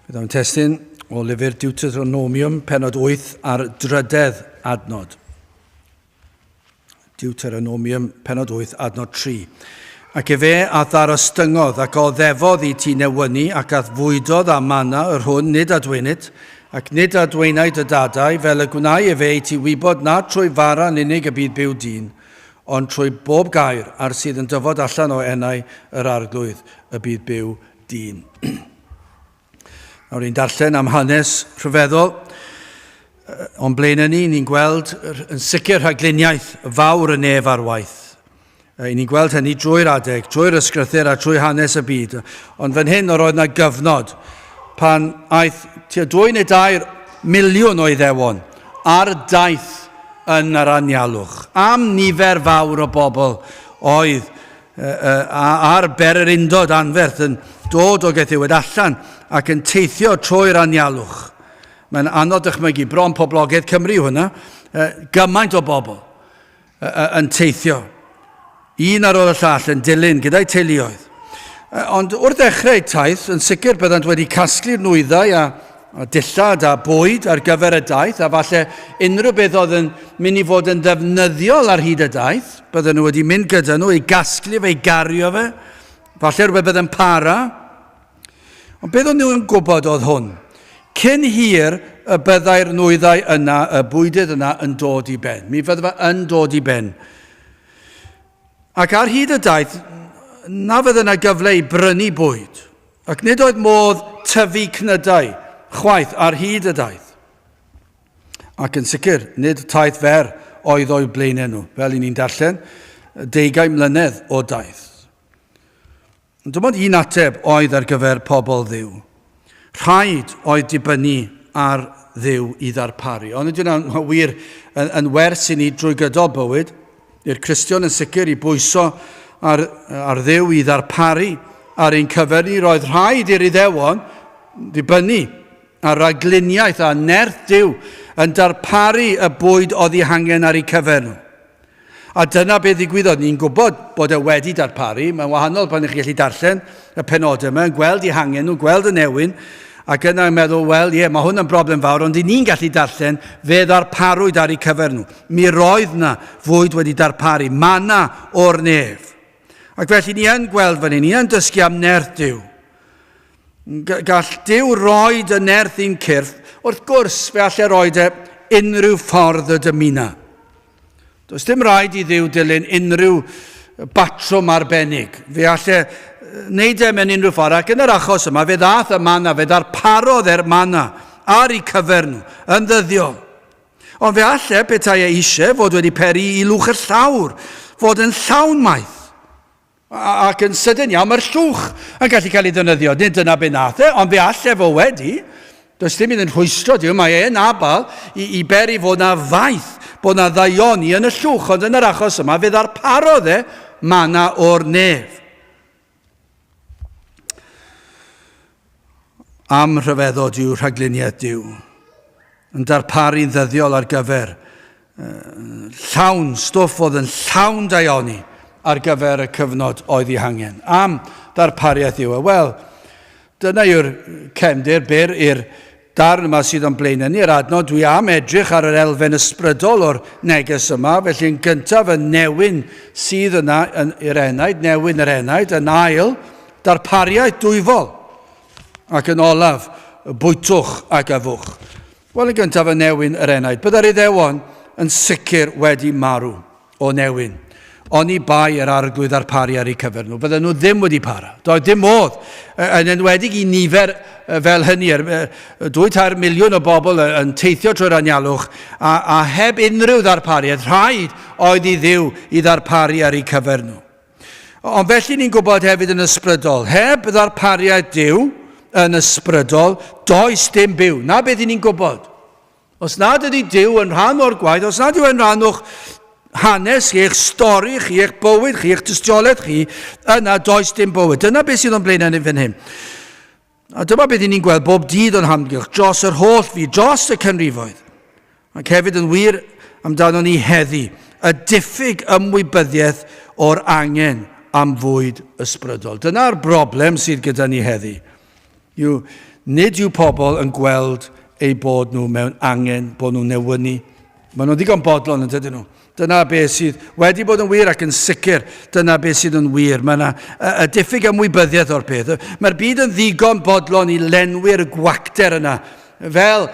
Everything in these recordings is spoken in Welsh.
Bydd o'n testyn o lyfr Deuteronomium, penod 8 a'r drydedd adnod. Deuteronomium, penod 8, adnod 3. Ac efe a ddarostyngodd ac o ddefodd i ti newynu ac a fwydodd a manna yr hwn nid adweinid, ac nid adweinaid y dadau, fel y gwnau efe i ti wybod na trwy fara yn unig y bydd byw dyn, ond trwy bob gair ar sydd yn dyfod allan o enau yr arglwydd y bydd byw dyn. Nawr ni'n darllen am hanes rhyfeddol o'n blaen ni, ni'n gweld yn sicr rhagluniaeth fawr y nef ar waith. I ni'n gweld hynny drwy'r adeg, drwy'r ysgrythyr a trwy hanes y byd. Ond fan hyn, yr oedd yna gyfnod pan aeth tua dwy neu dair miliwn o iddewon ar daith yn yr anialwch. Am nifer fawr o bobl oedd a ar ber yr undod anferth yn dod o Gethiwed allan ac yn teithio trwy'r anialwch. Mae'n anodd dychmygu, bron poblogaidd Cymru yw hwnna, gymaint o bobl yn teithio, un ar ôl y llall yn dilyn gyda'i teuluoedd. Ond wrth ddechrau taith, yn sicr byddant wedi casglu'r nwyddau a a dillad a bwyd ar gyfer y daith, a falle unrhyw beth oedd yn mynd i fod yn ddefnyddiol ar hyd y daith, bydden nhw wedi mynd gyda nhw i gasglu fe, i gario fe, falle rhywbeth bydd yn para. Ond beth o'n nhw'n gwybod oedd hwn? Cyn hir y byddai'r nwyddau yna, y bwydydd yna yn dod i ben. Mi fydda fe yn dod i ben. Ac ar hyd y daith, na fydd yna gyfle i brynu bwyd. Ac nid oedd modd tyfu cnydau chwaith ar hyd y daith. Ac yn sicr, nid taith fer oedd o'u blaenau nhw, fel i ni'n darllen, deugain mlynedd o daith. Ond dim ond un ateb oedd ar gyfer pobl ddiw. Rhaid oedd dibynnu ar ddiw i ddarparu. Ond ydy'n wir yn, yn wers i ni drwy gydol bywyd, i'r Cristion yn sicr i bwyso ar, ar ddew i ddarparu ar ein cyfer ni, roedd rhaid i'r iddewon ddibynnu ar ragluniaeth a nerth Dyw yn darparu y bwyd oedd ei hangen ar ei cyfer nhw. A dyna beth ddigwyddodd. Ni'n gwybod bod e wedi darparu. Mae'n wahanol pan ych chi'n gallu darllen y penodau yma, yn gweld ei hangen nhw, gweld y newyn, ac yna'n meddwl, wel, ie, yeah, mae hwn yn broblem fawr, ond i ni'n gallu darllen, fe ddarparwyd ar ei cyfer nhw. Mi roedd 'na fwyd wedi darparu, manna o'r nef. Ac felly ni yn gweld fan hyn, ni yn dysgu am nerth Dyw. Gall Dyw roed y nerth i'n cyrff, wrth gwrs fe allai roed e unrhyw ffordd y dymuna. Does dim rhaid i Ddyw dilyn unrhyw batrwm arbennig. Fe allai e wneud e mewn unrhyw ffordd, ac yn yr achos yma fe ddath y manna, fe ddarparodd e'r manna ar ei cyfer nhw, yn ddyddiol. Ond fe alle petai e eisiau fod wedi peri i lwch y llawr fod yn llawn maith. Ac yn sydyn iawn, mae'r llwch yn gallu cael ei ddynyddio. Nid dyna be nath e, ond fe alle fo wedi. Does dim iddyn rhwystro Dyw, mae e'n abal i, i beri fod na faith, bod na ddaioni yn y llwch, ond yn yr achos yma fe ddarparodd e mana o'r nef. Am rhyfeddod yw rhagluniaeth Dyw, yn darparu'n ddyddiol ar gyfer llawn stwff oedd yn llawn daioni ar gyfer y cyfnod oedd ei hangen. Am ddarpariaeth yw e. Wel, dyna yw'r cefndir byr i'r darn yma sydd o'n blaen ni, yr adnod, dwi am edrych ar yr elfen ysbrydol o'r neges yma, felly yn gyntaf y newyn sydd yna yn, i'r enaid, newyn yr enaid, yn ail, darpariaeth dwyfol, ac yn olaf, bwytwch ac afwch. Wel, yn gyntaf y newyn yr enaid, byddai'r iddewon yn sicr wedi marw. o Newyn. Oni bai yr Arglwydd ddarparu ar eu cyfer nhw, bydden nhw ddim wedi para. Doedd dim modd, yn enwedig i nifer fel hynny, er, dwy tair miliwn o bobl yn teithio trwy'r anialwch, a, a heb unrhyw ddarpariaeth, rhaid oedd i ddiw i ddarparu ar eu cyfer nhw. Ond felly ni'n gwybod hefyd yn ysbrydol, heb ddarpariaeth diw yn ysbrydol, does dim byw. Na beth i ni'n gwybod. Os nad ydy Duw yn rhan o'r gwaith, os nad yw e'n rhan o'ch hanes chi, eich stori chi, eich bywyd chi, eich tystiolaeth chi, yna does dim bywyd. Dyna beth sydd o'n blaenau ni fan hyn. A dyma beth ni'n gweld bob dydd o'n hamgylch dros yr holl fi, dros y cynrifoedd. Ac hefyd yn wir amdano ni heddi, y diffyg ymwybyddiaeth o'r angen am fwyd ysbrydol. Dyna'r broblem sydd gyda ni heddi. yw nid yw pobl yn gweld eu bod nhw mewn angen bod nhw'n newynu. Mae nhw'n ddigon bodlon yn dydyn nhw. Dyna beth sydd wedi bod yn wir ac yn sicr, dyna beth sydd yn wir. Mae yna y diffyg ymwybyddiaeth o'r peth. Mae'r byd yn ddigon bodlon i lenwi'r gwacter yna. Fel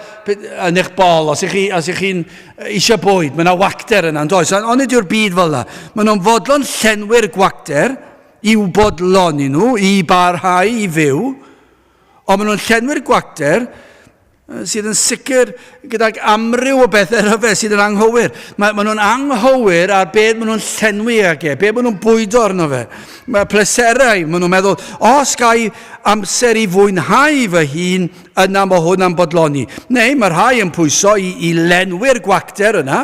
yn eich bol, os ych chi'n chi, eisiau bwyd, mae yna wacter yna, yn does? Ond nid yw'r byd fel yna. Mae nhw'n fodlon llenwi'r gwacter, i'w bodloni nhw i barhau i fyw, ond maen nhw'n llenwi'r gwater sydd yn sicr gydag amryw o bethau rhyfedd sydd yn anghywir. Mae, maen nhw'n anghywir ar beth maen nhw'n llenwi ag e, beth maen nhw'n bwydo arno fe. Mae pleserau, maen nhw'n meddwl, os gai amser i fwynhau fy hun, yna mae hwn am bodloni. Neu mae rhai yn pwyso i, i lenwi'r gwacter yna,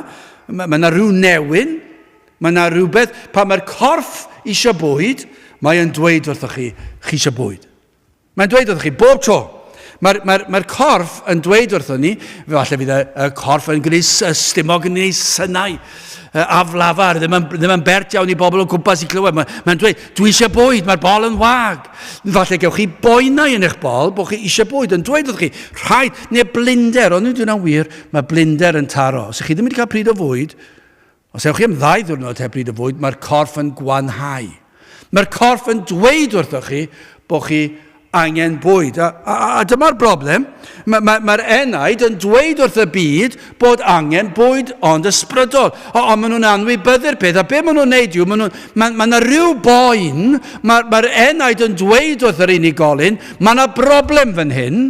mae yna rhyw newyn, Mae 'na rywbeth, pan mae'r corff eisiau bwyd, mae e'n dweud wrthoch chi, chi eisiau bwyd. Mae'n dweud wrthoch chi, bob tro. Mae'r mae mae corff yn dweud wrtho ni, fe falle fydd y, y corff yn gwneud stumog yn ei synau uh, aflafar, ddim yn, ddim yn bert iawn i bobl o gwmpas i clywed. Mae'n mae dweud, dwi eisiau bwyd, mae'r bol yn wag. Falle gewch chi boenau yn eich bol bod chi eisiau bwyd, yn dweud wrth chi, rhaid, neu blinder, ond dwi'n wir, mae blinder yn taro. Os ydych chi ddim wedi cael pryd o fwyd, Os ewch chi am ddau ddiwrnod heb bryd o fwyd, mae'r corff yn gwanhau. Mae'r corff yn dweud wrthoch chi bod chi angen bwyd. A, a, a dyma'r broblem. Mae'r ma, ma enaid yn dweud wrth y byd bod angen bwyd ond ysbrydol. Ond o, maen nhw'n anwybyddu'r peth. A be maen nhw'n neud yw, maen ma, ma yna rhyw boen, mae'r ma enaid yn dweud wrth yr unigolyn, mae yna broblem fan hyn.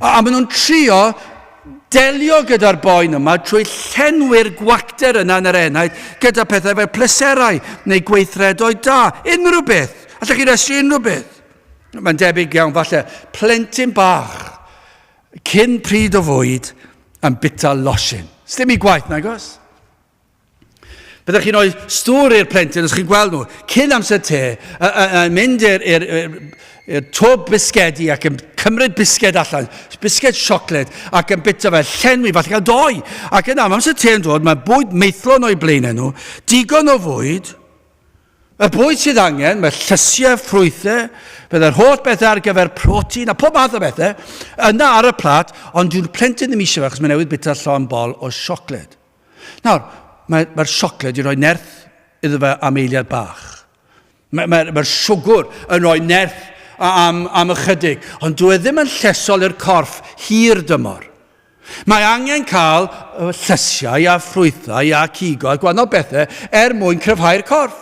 A, a maen nhw'n trio delio gyda'r boen yma trwy llenwi'r gwacter yna yn yr enaid gyda pethau fel pleserau neu gweithredoedd da, unrhyw beth. Allech chi restru unrhyw beth. Mae'n debyg iawn, falle, plentyn bach, cyn pryd o fwyd, yn bita losin. Sdim i gwaith, nagos? Byddwch chi'n rhoi stŵr i'r plentyn os chi'n gweld nhw cyn amser te, yn mynd i'r twb bisgedi ac yn cymryd bisged allan, bisged siocled, ac yn bita fe, llenwi, falle cael doi. Ac yna, am amser te yn dod, mae bwyd meithlon o'i blaen nhw, digon o fwyd, y bwyd sydd angen, mae llysiau, ffrwythau, byddai'r holl bethau ar gyfer protein a pob math o bethau, yna ar y plat, ond dyw'r plentyn ddim eisiau fe achos mae'n newydd bita llon bol o siocled. Nawr, mae'r mae siocled wedi rhoi nerth iddo fe am eiliad bach. Mae'r mae, mae siwgwr yn rhoi nerth am, am ychydig, ond dwi e ddim yn llesol i'r corff hir dymor. Mae angen cael llysiau a ffrwythau a cigo a gwahanol bethau er mwyn cryfhau'r corff.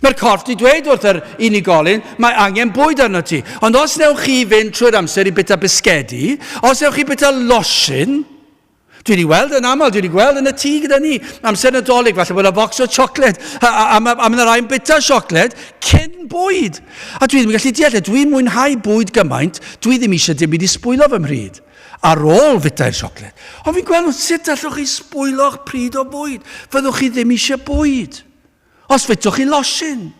Mae'r corff wedi dweud wrth yr unigolyn, mae angen bwyd arno ti. Ond os newch chi fynd trwy'r amser i bita bisgedi, os newch chi bita losin, Dwi wedi gweld yn aml, dwi wedi gweld yn y tŷ gyda ni, amser nadolig, falle bod yna bocs o siocled, a, a, a, a mae'n rhaid bita siocled cyn bwyd. A dwi ddim yn gallu deall, e. dwi'n mwynhau bwyd gymaint, dwi ddim eisiau dim byd i sbwylo fy mhryd ar ôl fitau'r siocled. Ond fi'n gweld sut allwch chi sbwylo'ch pryd o bwyd. Fyddwch chi ddim eisiau bwyd. Os fitwch chi losin.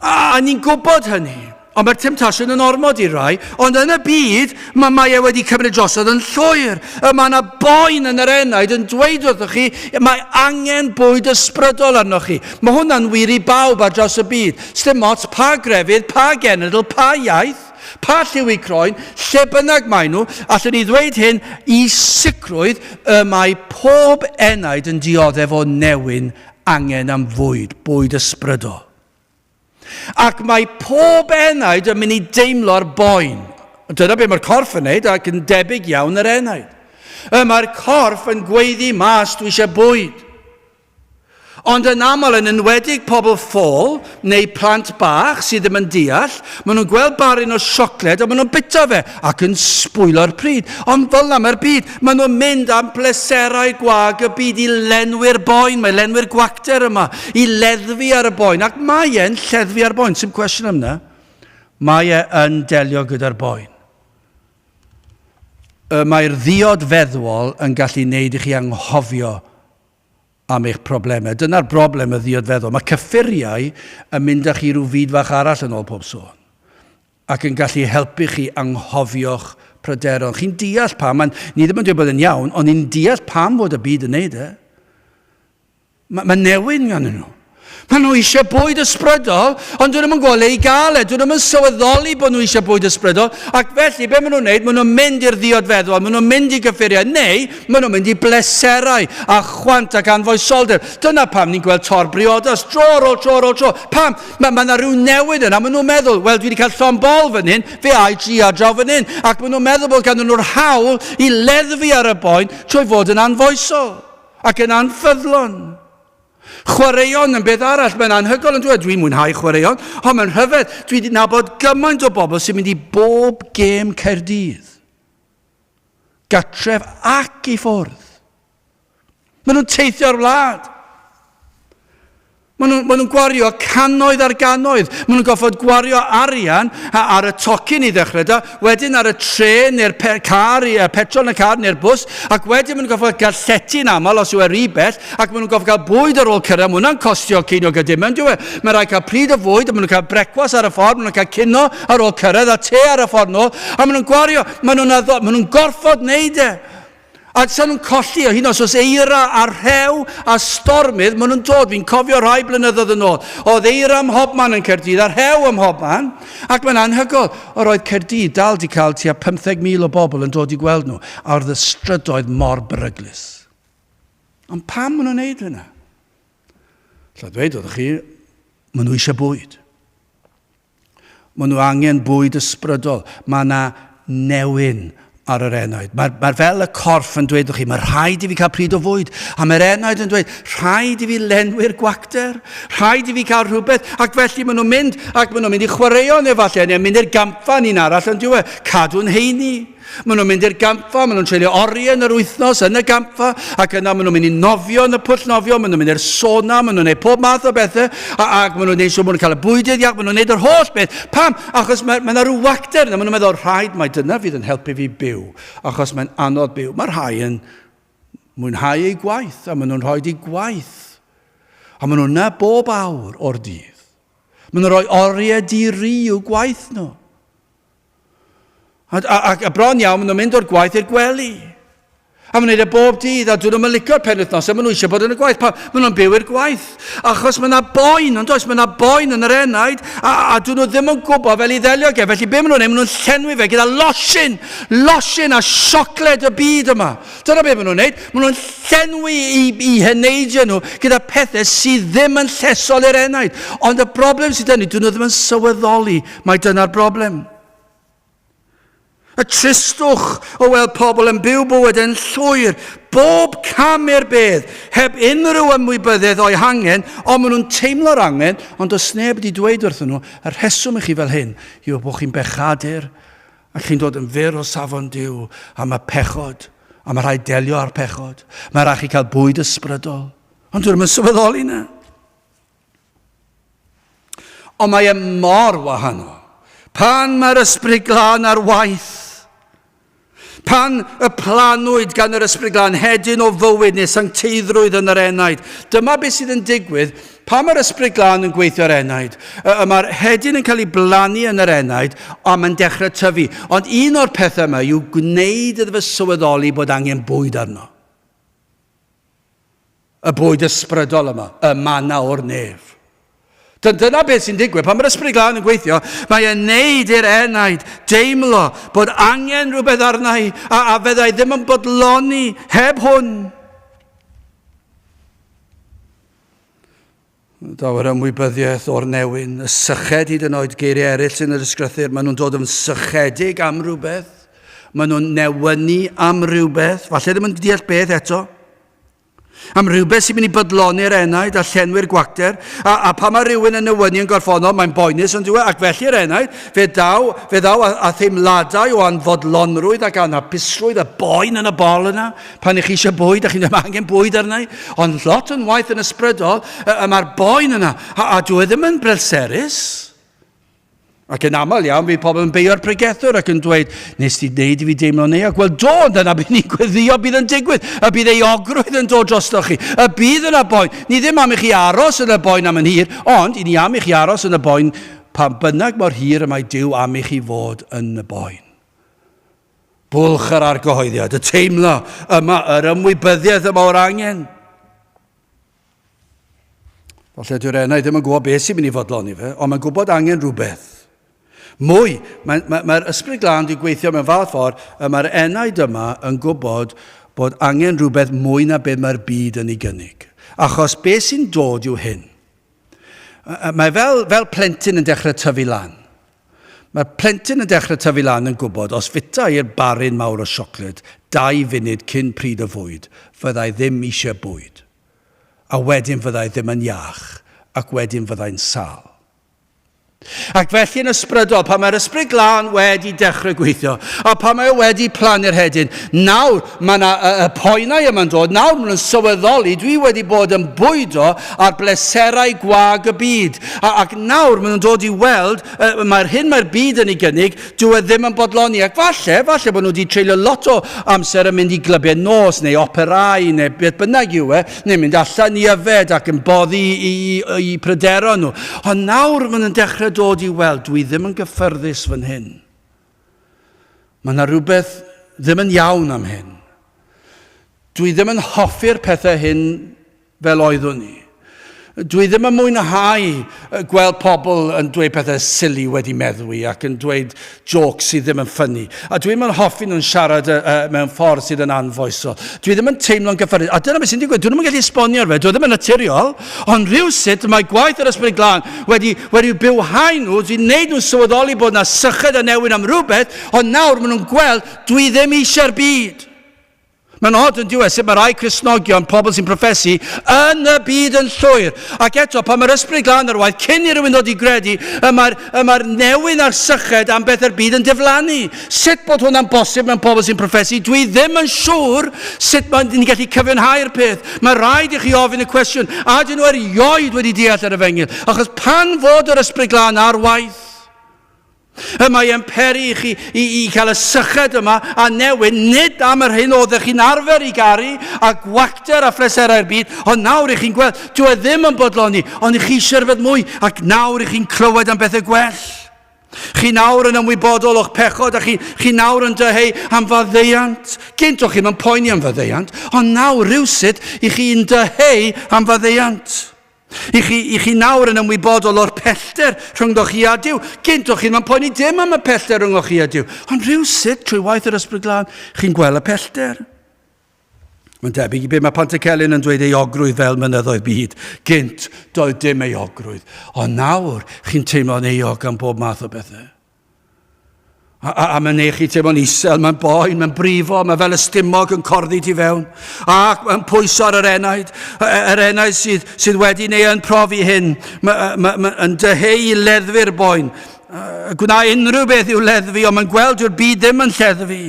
A ni'n gwybod hynny. Ond mae'r temtasiwn yn ormod i rai, ond yn y byd mae, mae e wedi cymryd drosodd yn llwyr. Y mae yna boen yn yr enaid yn dweud wrthoch chi, mae angen bwyd ysbrydol arnoch chi. Mae hwnna'n wir i bawb ar draws y byd. Sdim ots pa grefydd, pa genedl, pa iaith, pa lliw i croen, lle bynnag maen nhw, allwn ni ddweud hyn i sicrwydd y mae pob enaid yn dioddef o newyn angen am fwyd, bwyd ysbrydol. Ac mae pob enaid yn mynd i deimlo'r boen. Dyna beth mae'r corff yn neud ac yn debyg iawn yr enaid. Y mae'r corff yn gweiddi mas dwi eisiau bwyd. Ond yn aml yn enwedig pobl ffôl, neu plant bach sydd ddim yn deall, maen nhw'n gweld barun o siocled a maen nhw'n bita fe ac yn sbwylo'r pryd. Ond fel na mae'r byd, maen nhw'n mynd am bleserau gwag y byd i lenwi'r boen, mae lenwi'r gwacter yma, i leddfu ar y boen, ac mae e'n lleddfu ar boen, sy'n cwestiwn am na, mae e yn delio gyda'r boen. Y mae'r ddiod feddwol yn gallu neud i chi anghofio am eich problemau. Dyna'r broblem, y ddiod feddwl. Mae cyffuriau yn mynd â chi rhyw fyd fach arall yn ôl pob sôn ac yn gallu helpu chi anghofio'ch pryderon. Chi'n deall pam, mae'n ni ddim yn dweud bod yn iawn, ond ni'n deall pam fod y byd yn neud e. Mae ma newyn gan nhw. Maen nhw eisiau bwyd ysbrydol, ond dyn nhw'n yn gweld ei gael e. Dyn nhw'n yn sylweddoli bod nhw eisiau bwyd ysbrydol, ac felly be maen nhw'n gwneud? Maen nhw'n mynd i'r ddiodfeddwol, maen nhw'n mynd i gyffuriau, neu maen nhw'n mynd i bleserau a chwant ac anfoesoldeb. Dyna pam ni'n gweld tor briodas, tro ar ôl tro ar ôl tro. Pam? Mae yna ma rhyw newid yna. Maen nhw'n meddwl, wel, dwi wedi cael llon bol fan hyn, fe ai tri ar draw fan hyn. Ac maen nhw'n meddwl bod ganddyn nhw'r hawl i leddfu ar y boen trwy fod yn anfoesol ac yn anffyddlon. Chwaraeon yn beth arall, mae'n anhygoel yn dweud, dwi'n mwynhau chwaraeon, ond mae'n rhyfedd, dwi wedi nabod gymaint o bobl sy'n mynd i bob gêm Caerdydd. Gatref ac i ffwrdd. Maen nhw'n teithio'r wlad. Maen nhw'n ma nhw gwario cannoedd ar gannoedd. Maen nhw'n goffod gwario arian ar y tocyn i ddechrau da. wedyn ar y trên neu'r car, y petrol yn y car neu'r bws, ac wedyn maen nhw'n gorfod cael llety yn aml os yw e rhy bell, ac maen nhw'n gorfod cael bwyd ar ôl cyrraedd, mae hwnna'n costio ceiniog a dim, ynddo fe? Mae'n rhaid cael pryd o fwyd, a maen nhw'n cael brecwas ar y ffordd, maen nhw'n cael cino ar ôl cyrraedd, a te ar y ffordd nôl, a maen nhw'n gwario, maen nhw'n, maen nhw'n gorfod wneud e. A sa'n nhw'n colli o hyn os oes eira a rhew a stormydd, maen nhw'n dod, fi'n cofio rhai blynyddoedd yn ôl, oedd eira ym mhob man yn Caerdydd a rhew ym mhob man, ac mae'n anhygol, yr oedd Caerdydd dal di cael tua 50,000 o bobl yn dod i gweld nhw, a oedd y strydoedd mor beryglus. Ond pam maen nhw'n neud hynna? Lla ddweud oedd chi, maen nhw eisiau bwyd. Maen nhw angen bwyd ysbrydol. Mae yna newyn ar yr enaid. Mae'r mae fel y corff yn dweud chi, mae rhaid i fi cael pryd o fwyd. A mae'r enaid yn dweud, rhaid i fi lenwi'r gwacter, rhaid i fi cael rhywbeth. Ac felly maen nhw'n mynd, ac maen nhw'n mynd i chwaraeon efallai, neu mynd i'r gampfa ni'n arall yn diwedd. Cadw'n heini. Maen nhw'n mynd i'r gampfa, maen nhw'n treulio oriau yn yr wythnos yn y gampfa, ac yna maen nhw'n mynd i nofio yn y pwll nofio, maen nhw'n mynd i'r sona, maen nhw'n gwneud pob math o bethau, ac maen nhw'n gwneud siŵr maen nhw'n cael y bwydydd iach, maen nhw'n gwneud yr holl beth. Pam? Achos mae, mae yna rhyw wacter yna, maen nhw'n meddwl, rhaid mae dyna fydd yn helpu fi byw, achos mae'n anodd byw. Mae rhai yn mwynhau eu gwaith, a maen nhw'n rhoi eu gwaith, a maen nhw'n bob awr o'r dydd. Maen nhw'n rhoi oriau di-ri i'w gwaith nhw. A, a, a, a bron iawn, maen nhw'n mynd o'r gwaith i'r gwely. A maen nhw'n gwneud e bob dydd, a dyn nhw'n licio'r pen wythnos, a maen nhw eisiau bod yn y gwaith. Pa, maen nhw'n byw i'r gwaith. Achos mae yna boen, ond oes, mae yna boen yn yr enaid, a, a dyn nhw ddim yn gwybod fel i ddelio ge. Felly be maen nhw'n ei, maen nhw'n llenwi fe gyda losin, losin a siocled y byd yma. Dyna be maen nhw'n ei, maen nhw'n llenwi i, i heneidio nhw gyda pethau sydd ddim yn llesol i'r enaid. Ond y broblem sydd dyn nhw, dyn nhw ddim yn sylweddoli Mae dyna'r broblem. Y tristwch o weld pobl yn byw bywyd yn llwyr, bob cam i'r bedd, heb unrhyw ymwybyddedd o'i hangen, ond maen nhw'n teimlo'r angen, ond does neb wedi dweud wrthyn nhw, y rheswm i chi fel hyn yw bod chi'n bechadur, a chi'n dod yn fyr o safon Dyw am y pechod, a mae rhaid delio â'r pechod. Mae rhaid chi cael bwyd ysbrydol. Ond dwi'n mynd sylweddoli na. Ond mae e mor wahanol pan mae'r Ysbryd Glân ar waith. Pan y planwyd gan yr Ysbryd Glân hedyn o fywyd neu sancteiddrwydd yn yr enaid, dyma beth sydd yn digwydd pan mae'r Ysbryd Glân yn gweithio ar enaid. Mae'r hedyn yn cael ei blannu yn yr enaid a mae'n dechrau tyfu. Ond un o'r pethau yma yw gwneud iddo fe sylweddoli bod angen bwyd arno. Y bwyd ysbrydol yma, y manna o'r nef. Dy- dyna beth sy'n digwydd. Pan mae'r Ysbryd Glân yn gweithio, mae e'n neud i'r enaid deimlo bod angen rhywbeth arna i, a, a feddai ddim yn bodloni heb hwn. Daw'r ymwybyddiaeth o'r newyn, y syched hyd yn oed geiriau eraill sy'n yr ysgrythyr, maen nhw'n dod yn sychedig am rhywbeth, maen nhw'n newynu am rhywbeth, falle ddim yn deall beth eto, am rhywbeth sy'n mynd i bydloni'r enaid a llenwi'r gwacter, a, a pan mae rhywun yn newynu yn gorffonol, mae'n boenus ond diwedd, ac felly'r enaid, fe ddaw, fe ddaw a, a theimladau o anfodlonrwydd ac anhapusrwydd a boen yn y bol yna, Pan ych chi eisiau bwyd, a chi'n dweud, mae angen bwyd arna i, ond lot o'n waith yn ysbrydol, y, y mae'r boen yna, a, a dwi e ddim yn brelserus. Ac yn aml iawn, bydd pobl yn beio'r pregethwr ac yn dweud, nes ti wneud i fi deimlo'n euog. Wel, do, dyna bydd ni'n gweddio bydd yn digwydd, y bydd ei ogrwydd yn dod drosto chi, y bydd yna boen. Ni ddim am i chi aros yn y boen am yn hir, ond i ni am i chi aros yn y boen pan bynnag mor hir y mae Dyw am i chi fod yn y boen. Bwlch yr argyhoeddiad, y teimlo yma yr ymwybyddiaeth yma o'r angen. Falle dyw'r enau ddim yn gwybod beth sy'n mynd i fodloni fe, ond mae'n gwybod angen rhywbeth. Mwy, mae'r mae, mae ysbryd glân wedi gweithio mewn fath ffordd y mae'r enau dyma yn gwybod bod angen rhywbeth mwy na beth mae'r byd yn ei gynnig. Achos beth sy'n dod yw hyn. Mae fel, fel plentyn yn dechrau tyfu lan. Mae'r plentyn yn dechrau tyfu lan yn gwybod os fita i'r barun mawr o siocled dau funud cyn pryd o fwyd, fyddai ddim eisiau bwyd. A wedyn fyddai ddim yn iach, ac wedyn fyddai'n sâl. Ac felly yn ysbrydol, pan mae'r ysbryd glân wedi dechrau gweithio, a pan mae o wedi plannu'r hedyn, nawr mae yna y, y poenau yma'n dod, nawr maen nhw'n sylweddoli, dwi wedi bod yn bwydo ar bleserau gwag y byd, a, ac nawr maen nhw'n dod i weld, uh, mae'r hyn mae'r byd yn ei gynnig, dwi e ddim yn bodloni, ac falle, falle bod nhw wedi treulio lot o amser yn mynd i glybiau nos, neu operau, neu beth bynnag yw e, neu'n mynd allan i yfed ac yn boddi eu pryderon nhw. Ond nawr maen nhw'n dechrau dod i weld, dwi ddim yn gyffyrddus fan hyn. Mae yna rhywbeth ddim yn iawn am hyn. Dwi ddim yn hoffi'r pethau hyn fel oeddwn i. Dwi ddim yn mwynhau gweld pobl yn dweud pethau silly wedi meddwi ac yn dweud jôcs sydd ddim yn ffynnu. A dwi'm yn hoffi nhw'n siarad uh, uh, mewn ffordd sydd yn anfoesol. Dwi ddim yn teimlo'n gyffyrddus. A dyna beth sy'n digwydd. Dwi ddim yn gallu esbonio ar fe. Dwi ddim yn naturiol. Ond rhywsut mae gwaith yr ysbryd glân wedi, wedi bywhau nhw, wedi gwneud nhw'n sylweddoli bod yna syched a newid am rhywbeth, ond nawr maen nhw'n gweld dwi ddim eisiau'r byd. Mae'n od yn diwedd sut mae rhai Cristnogion, pobl sy'n profesu, yn y byd yn llwyr. Ac eto, pan mae'r ysbryd glân ar waith cyn i rywun ddod i gredu, y mae'r mae newyn a'r syched am beth yr byd yn diflannu. Sut bod hwnna'n bosib mewn pobl sy'n profesu? Dwi ddim yn siŵr sut mae'n ni'n gallu cyfiawnhau'r peth. Mae rhaid i chi ofyn y cwestiwn, a dyn nhw erioed wedi deall yr efengyl? Achos pan fod yr ysbryd glân ar waith, Y mae yn peri i chi i, i cael y syched yma a newyn, nid am yr hyn oeddech chi'n arfer i garu a gwacter a phleserau'r byd, ond nawr i chi'n gweld, dwi e ddim yn bodloni, ond i chi eisiau rhywbeth mwy, ac nawr i chi'n clywed am bethau gwell. Chi nawr yn ymwybodol o'ch pechod a chi, chi nawr yn dyheu am faddeuant. Gynt o'ch chi'n yn poeni am faddeuant, ond nawr rhywsut i chi'n dyheu am faddeuant. I chi, i chi nawr yn ymwybodol o'r pellter rhyngddo chi a Dyw. Gynto chi ddim yn poeni dim am y pellter rhyngddo chi a Dyw. Ond rhyw sut, trwy waith yr ysbryd glân, chi'n gweld y pellter. Mae'n debyg i beth mae Pantycelyn yn dweud ei ogrwydd fel mynyddoedd byd. Gynt, doedd dim ei ogrwydd. Ond nawr, chi'n teimlo'n euog am bob math o bethau. A, a, a mae'n neud chi teimlo'n isel, mae'n boen, mae'n brifo, mae fel y stumog yn corddi ti fewn. Ac mae'n pwyso ar yr enaid, e, yr enaid sydd, sydd wedi neu yn profi hyn, mae'n ma, ma, ma dyheu i leddfu'r boen. Gwna unrhyw beth i'w leddfu, ond mae'n gweld yw'r byd ddim yn lleddfu.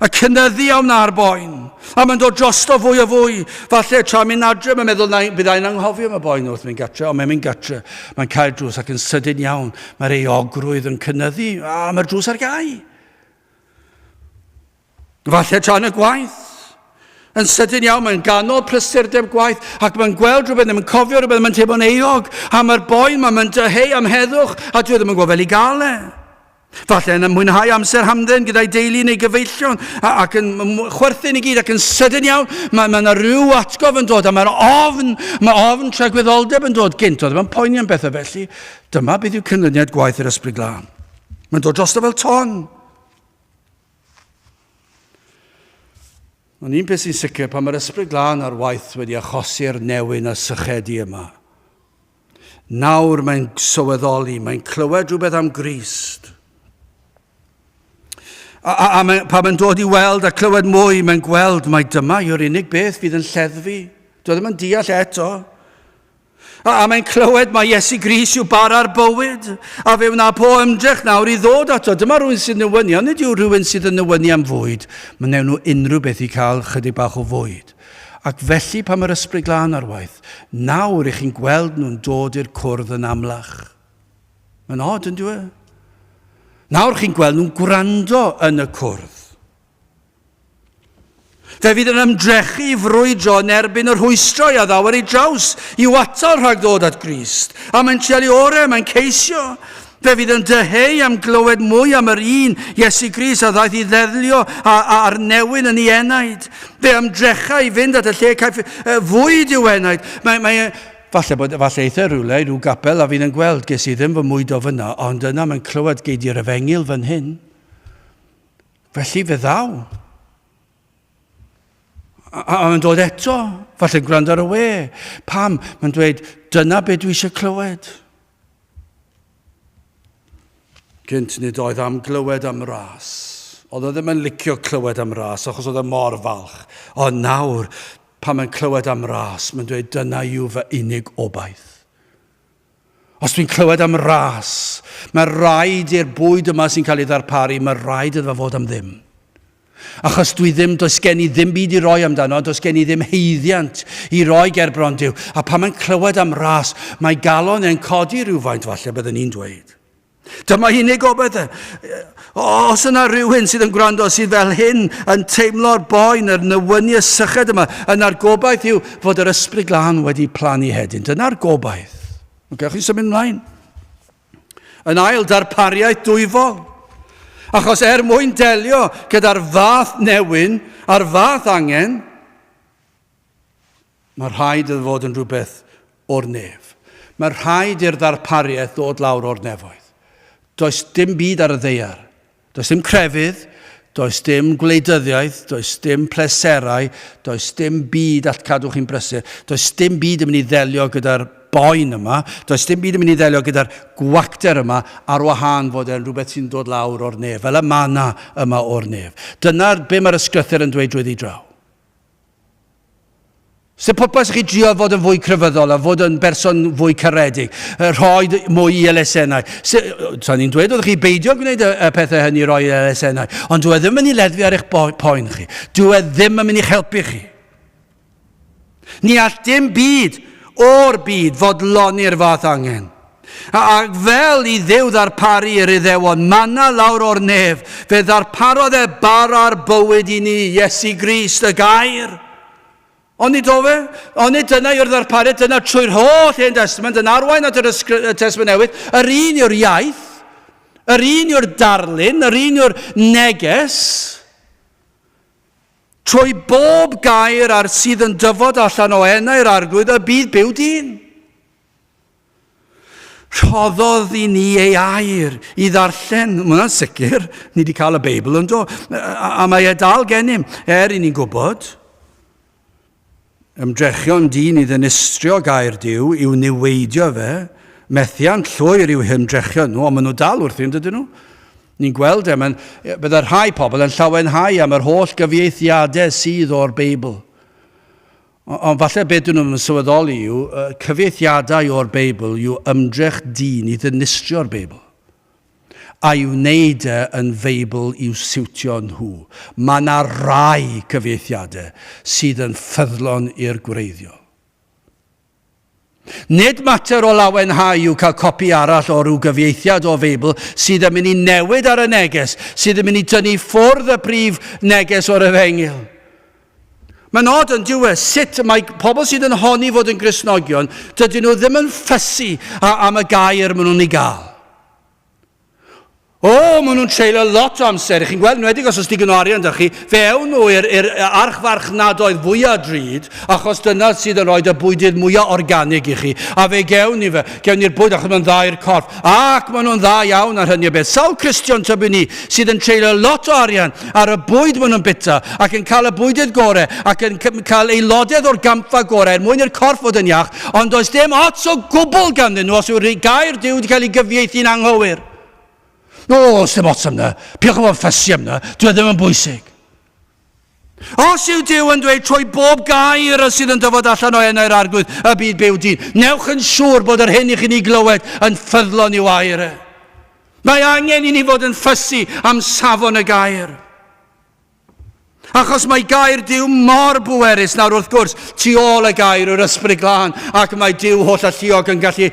A cynyddu am na'r boen. A mae'n dod drosto fwy a fwy. Falle tra mynd adre, mae'n meddwl na bydd ein anghofio am y boen wrth mynd gatre, ond mae'n mynd gatre, mae'n cael drws ac yn sydyn iawn, mae'r ei ogrwydd yn cynyddu, a mae'r drws ar gau. Falle tra yn y gwaith. Yn sydyn iawn, mae'n ganol prysurdeb gwaith ac mae'n gweld rhywbeth, mae'n cofio rhywbeth, mae'n teimlo'n eog, a mae'r boen, mae'n dyheu am heddwch, a dwi e ddim yn gwybod fel i gael e. Falle yn mwynhau amser hamdden gyda'i deulu neu gyfeillion ac yn chwerthin i gyd ac yn sydyn iawn mae yna ma rhyw atgof yn dod a mae'r ofn, mae ofn tragwyddoldeb yn dod gynt, oedd yma'n poeni am bethau felly. Dyma beth yw cynlyniad gwaith yr ysbryd glân. Mae'n dod drosto fel ton. Ond un peth sy'n sicr, pan mae'r ysbryd glân ar waith wedi achosi'r newyn a sychedu yma, Nawr mae'n sylweddoli, mae'n clywed rhywbeth am Grist. A, a, a mae, pan mae'n dod i weld a clywed mwy, mae'n gweld mae dyma yw'r unig beth fydd yn lleddfu. Doedd ddim yn deall eto. A, a mae'n clywed mae Iesu Gris yw bara'r bywyd, a fe wna po ymdrech nawr i ddod ato. Dyma rhywun sy'n nywynu, ond nid yw rhywun sydd yn nywynu am fwyd. Mae'n newn nhw unrhyw beth i cael chydig bach o fwyd. Ac felly pan mae'r Ysbryd Glân ar waith nawr, 'ych chi'n gweld nhw'n dod i'r cwrdd yn amlach. Mae'n od, yn dweud? Nawr chi'n gweld nhw'n gwrando yn y cwrdd. Fe fydd yn ymdrechu i frwydro yn erbyn yr hwystrau a ddawer ei draws i'w atal rhag ddod at Grist. A mae'n treul ei orau, mae'n ceisio. Fe fydd yn dyheu am glywed mwy am yr un Iesu Gris a ddaeth i ddeddlio a, a ar newyn yn ei enaid. Fe ymdrecha i fynd at y lle caiff uh, fwyd i'w enaid. Mae, mae, e- Falle bod, falle eitha rhywle, rhyw gapel a fi'n yn gweld, ges i ddim fy mwydo fyna, ond yna mae'n clywed gei di'r efengil fan hyn. Felly fe ddaw. A, a mae'n dod eto, falle gwrando ar y we. Pam? Mae'n dweud, dyna beth dwi eisiau clywed. Gynt nid oedd am glywed am ras. Oedd o ddim yn licio clywed am ras achos oedd e mor falch. Ond nawr, pan mae'n clywed am ras, mae'n dweud dyna yw fy unig obaith. Os dwi'n clywed am ras, mae rhaid i'r bwyd yma sy'n cael ei ddarparu, mae rhaid iddo fod am ddim. Achos dwi ddim, does gen i ddim byd i roi amdano, does gen i ddim heiddiant i roi ger bron Duw. A pan mae'n clywed am ras, mae galon e'n codi rhywfaint falle byddwn ni'n dweud. Dyma unig gobaith e. Os yna rhywun sydd yn gwrando sydd fel hyn yn teimlo'r boen, yr nywyniau syched yma, yna'r gobaith yw fod yr ysbryd glân wedi plannu hedyn. Dyna'r gobaith. Mae'n cael chi symud ymlaen. yn ail darpariaeth dwyfol. Achos er mwyn delio gyda'r fath newyn a'r fath angen, mae rhaid iddo fod yn rhywbeth o'r nef. Mae rhaid i'r ddarpariaeth ddod lawr o'r nefoedd. Does dim byd ar y ddeiar Does dim crefydd, does dim gwleidyddiaeth, does dim pleserau, does dim byd all cadw chi'n brysur, does dim byd yn mynd i ddelio gyda'r boen yma, does dim byd yn mynd i ddelio gyda'r gwacter yma ar wahân fod e'n rhywbeth sy'n dod lawr o'r nef, fel y manna yma o'r nef. Dyna be mae'r ysgrythur yn dweud drwyddi draw. Sef pwrpas i chi drio fod yn fwy crefyddol a fod yn berson fwy caredig, rhoi mwy i elusennau. Sa'n ni'n dweud wrth chi beidio gwneud y, y pethau hynny roi i elusennau, ond dwi e ddim yn mynd i ledfu ar eich poen chi. Dwi e ddim yn mynd i'ch helpu chi. Ni all dim byd o'r byd fodloni'r fath angen. Ac fel i Dduw ddarparu yr Iddewon manna lawr o'r nef, fe ddarparodd e bara'r bywyd i ni, Iesu Grist, y gair. Ond nid ofe, ond nid dyna yw'r ddarpariad, dyna trwy'r holl Hen Testament yn arwain at yr Testament Newydd, yr un yw'r iaith, yr un yw'r darlun, yr un yw'r neges, trwy bob gair ar sydd yn dyfod allan o enau'r arglwydd y bydd byw dyn. Rhoddodd i ni ei air i ddarllen, mae hwnna'n sicr, ni wedi cael y Beibl yn do, a mae e dal gennym, er i ni'n gwybod. Ymdrechion dyn i ddinistrio gair Dyw, i'w niweidio fe, methiant llwyr i'w hymdrechion nhw, ond maen nhw dal wrthi yn dydyn nhw. Ni'n gweld e, mae'n, bydde rhai pobl yn llawenhau am yr holl gyfieithiadau sydd o'r Beibl. Ond falle be dyn nhw ddim yn sylweddoli yw, cyfieithiadau o'r Beibl yw ymdrech dyn i ddinistrio'r Beibl, a'i wneud e yn Feibl i'w siwtio nhw. Mae yna rai cyfieithiadau sydd yn ffyddlon i'r gwreiddiol. Nid mater o lawenhau yw cael copi arall o ryw gyfieithiad o Feibl sydd yn mynd i newid ar y neges, sydd yn mynd i dynnu ffwrdd y prif neges o'r Efengyl. Mae'n od yn dyw e, sut y mae pobl sydd yn honni fod yn Gristnogion, dydyn nhw ddim yn ffysu am y gair maen nhw'n ei gael. O, maen nhw'n treulio lot o amser, chi'n gweld, nwedig os oes digon o arian da chi, fe ewn nhw i'r er, er archfarchnadoedd fwyaf drud, achos dyna sydd yn rhoi y bwydydd mwyaf organig i chi, a fe gewn ni fe, gewn ni'r bwyd achos mae'n dda i'r corff, ac maen nhw'n dda iawn ar hynny o beth. Sawl Cristion tybyn ni sydd yn treulio lot o arian ar y bwyd maen nhw'n bita, ac yn cael y bwydydd gorau, ac yn cael aelodedd o'r gampfa gorau, er mwyn i'r corff fod yn iach, Ond does dim ots o gwbl ganddyn nhw os yw'r gair Duw wedi cael ei gyfieithu'n anghywir. O, os dim ots am na. Piwch yn fawr ffysi am na. Dwi e ddim yn bwysig. Os yw Dyw yn dweud trwy bob gair y sydd yn dyfod allan o enau'r arglwydd y byd byw dyn, newch yn siŵr bod yr hyn i chi'n ei glywed yn ffyddlon i'w air e. Mae angen i ni fod yn ffysi am safon y gair. Achos mae gair Duw mor bwerus nawr wrth gwrs, tu ôl y gair yw'r ysbryd glân, ac mae Duw holl alluog yn gallu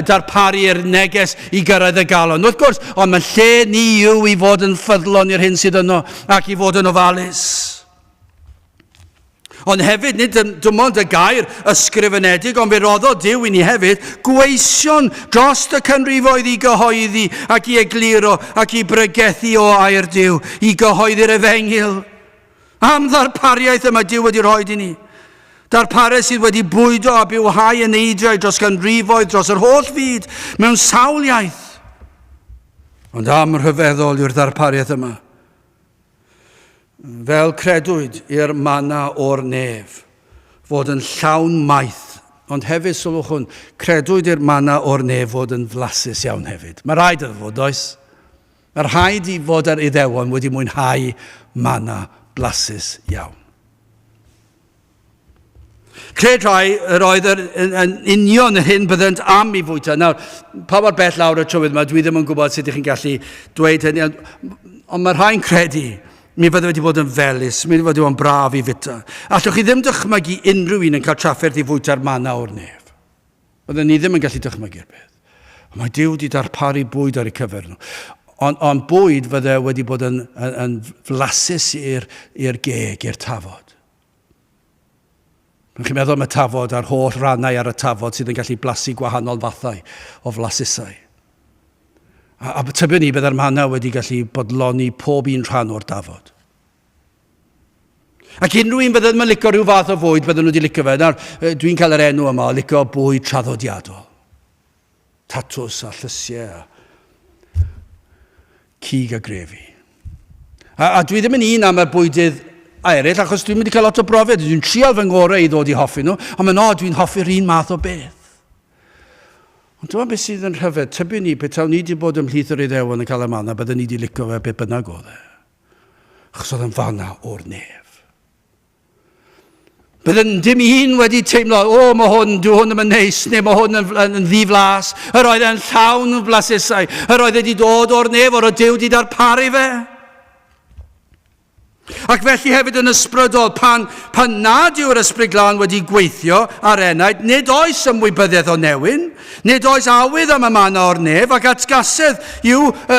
darparu'r neges i gyrraedd y galon. Wrth gwrs, ond mae lle ni yw i fod yn ffyddlon i'r hyn sydd yno ac i fod yn ofalus. Ond hefyd, nid yn dim ond y gair ysgrifenedig, ond fe roddodd Dyw i ni hefyd gweision dros y canrifoedd i gyhoeddi ac i egluro ac i bregethu o air Dyw, i gyhoeddi'r efengyl. Am ddarpariaeth y mae Dyw wedi rhoi i ni. Darpariaeth sydd wedi bwydo a bywhau yn eidiau dros ganrifoedd, dros yr holl fyd, mewn sawl iaith. Ond am rhyfeddol yw'r ddarpariaeth yma. Fel credwyd i'r mana o'r nef fod yn llawn maith, ond hefyd, sylwch hwn, credwyd i'r mana o'r nef fod yn flasus iawn hefyd. Mae rhaid iddo fod, does? Mae rhaid i fod yr Iddewon wedi mwynhau mana blasus iawn. Cred rhai yr oedd yr, yn, yn union yr hyn byddant am i fwyta. Nawr, pa mor bell lawr y trywydd yma, dwi ddim yn gwybod sut ydych chi'n gallu dweud hynny, ond, ond mae rhai'n credu mi fydde wedi bod yn felus, mi fydde wedi bod yn braf i fita. Allwch chi ddim dychmygu unrhyw un yn cael trafferth i fwyta'r manna o'r nef. Oedden ni ddim yn gallu dychmygu'r peth. Ond mae Dyw wedi darparu bwyd ar y cyfer nhw. Ond on bwyd fydde wedi bod yn, yn, yn flasus i'r geg, i'r tafod. Rwy'n chi'n meddwl am y tafod a'r holl rannau ar y tafod sydd yn gallu blasu gwahanol fathau o flasusau. A, a tybiwn ni byddai'r manna wedi gallu bodloni pob un rhan o'r dafod. Ac unrhyw un byddai'n licio rhyw fath o fwyd, byddwn nhw wedi licio fe. Nawr, dwi'n cael yr enw yma o licio bwyd traddodiadol. tatws a llysiau a cig a grefi. A, a dwi ddim yn un am y bwydydd eraill, achos dwi'n mynd i cael lot o brofiad, dwi'n trial fy ngorau i ddod i hoffi nhw, ond mae'n od, dwi'n hoffi'r un math o beth. Ond dyma beth sydd yn rhyfedd, tybyn ni, petawn ni wedi bod ymhlith yr Iddewon yn cael y manna, byddwn ni wedi licio fe beth bynnag oedd e. Achos oedd yn fanna o'r nef. Byddwn dim un wedi teimlo, o, oh, mae hwn, dwi hwn ddim yn neis, neu mae hwn yn, yn, yn ddiflas. Yr oedd e'n llawn yn flasesau. Yr oedd wedi dod o'r nef, o'r o Dyw wedi darparu fe. Ac felly hefyd yn ysbrydol, pan, pan nad yw'r ysbryd glân wedi gweithio ar enaid, nid oes ymwybyddiaeth o newyn, nid oes awydd am y manna o'r nef, ac atgasedd yw y, y,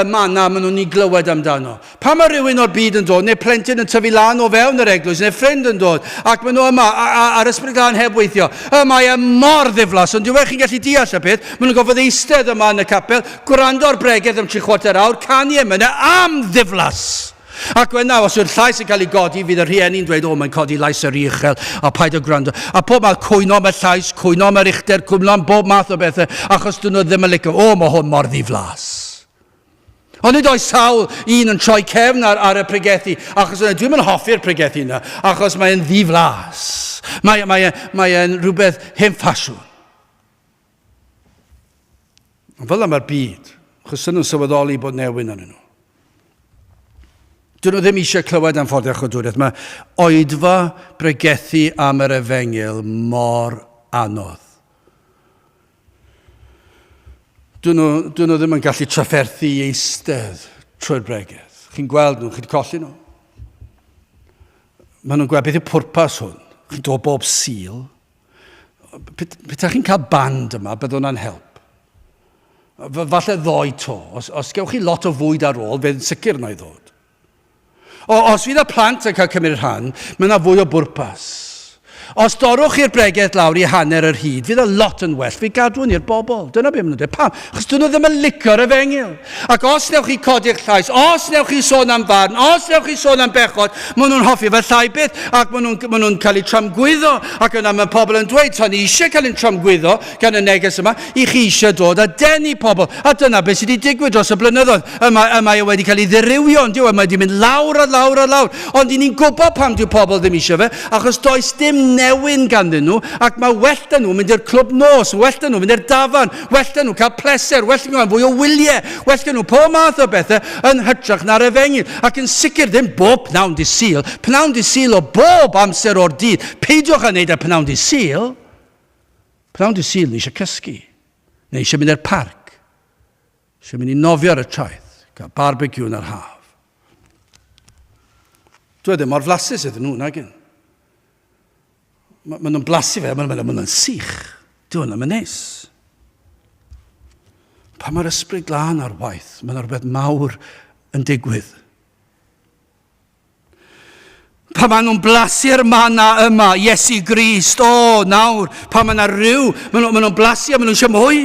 y manna maen nhw'n ei glywed amdano. Pan mae rhywun o'r byd yn dod, neu plentyn yn tyfu lan o fewn yr eglwys, neu ffrind yn dod, ac maen nhw yma, a'r ysbryd glân heb weithio, y mae e mor ddiflas, ond diwech chi'n gallu deall y peth, maen nhw'n gofod eistedd yma yn y capel, gwrando ar bregeth am tri chwarter awr, canu emynau am ddiflas! Ac wna, os yw'r llais yn cael ei godi, fydd y rhieni'n dweud, o, mae'n codi lais yr uchel, a paid o gwrando. A pob math, cwyno am y llais, cwyno am yr uchder, cwyno am bob math o bethau, achos dyn nhw ddim yn licio, o, mae hwn mor ddiflas. Ond nid oes sawl un yn troi cefn ar, ar y pregethu, achos yna dwi'n yn hoffi'r pregethu yna, achos mae'n ddiflas. Mae'n mae, mae e rhywbeth hen ffasiwn. Ond fel yma'r byd, achos sy'n nhw'n sylweddoli bod newyn yn nhw. Dyn nhw ddim eisiau clywed am ffordd a chodwriaeth. Mae oedfa bregethu am yr efengyl mor anodd. Dyn nhw, dyn nhw ddim yn gallu trafferthu i eistedd trwy'r bregeth. Chi'n gweld nhw, chi'n colli nhw. Mae nhw'n gweld beth yw pwrpas hwn. Chi'n dod bob sil. Peta chi'n cael band yma, bydd hwnna'n help. Falle ddoi to. Os, os gewch chi lot o fwyd ar ôl, fe'n sicr na i ddod. O, os fydd y plant yn cael cymryd rhan, mae yna fwy o bwrpas. Os dorwch chi'r bregeth lawr i hanner yr hyd, fydd y lot yn well. Fi gadw hwn i'r bobl. Dyna beth maen nhw'n dweud. Pam? Achos dyn nhw ddim yn licio'r efengyl. Ac os newch chi codi'ch llais, os newch chi sôn am farn, os newch chi sôn am bechod, maen nhw'n hoffi fe llai byth ac maen nhw'n nhw cael eu tramgwyddo. Ac yna mae pobl yn dweud, so ni eisiau cael ein tramgwyddo, gan y neges yma, i chi eisiau dod a denu pobl. A dyna beth sydd wedi digwydd dros y blynyddoedd. Yma, yma e wedi cael ei ddirywio, ond yw, yma wedi mynd lawr a lawr a lawr. Ond i ni'n gwybod pam dyw pobl ddim eisiau fe, achos does dim newyn ganddyn nhw, ac mae well dyn nhw mynd i'r clwb nos, well dyn nhw mynd i'r dafan, well dyn nhw cael pleser, well dyn nhw fwy o wyliau, well dyn nhw pob math o bethau yn hytrach na'r efengyl. Ac yn sicr ddim bob pnawn di syl, pnawn di syl o bob amser o'r dydd. Peidiwch â wneud y pnawn di syl. Pnawn dy Sul ni eisiau cysgu. Neu eisiau mynd i'r parc. Eisiau mynd i nofio ar y traeth. Cael barbecue yn yr haf. Dwi ddim mor flasus iddyn nhw, nagyn. Maen nhw'n blasu fe, maen nhw'n sych. Dwi hwnna, mae'n neis. Pa mae'r ysbryd glân ar waith, mae'n rhywbeth mawr yn digwydd. Pa maen nhw'n blasu ar manna yma, Iesu Grist, o, nawr, pa maen nhw'n rhyw, maen nhw'n nhw blasu a maen nhw'n eisiau mwy.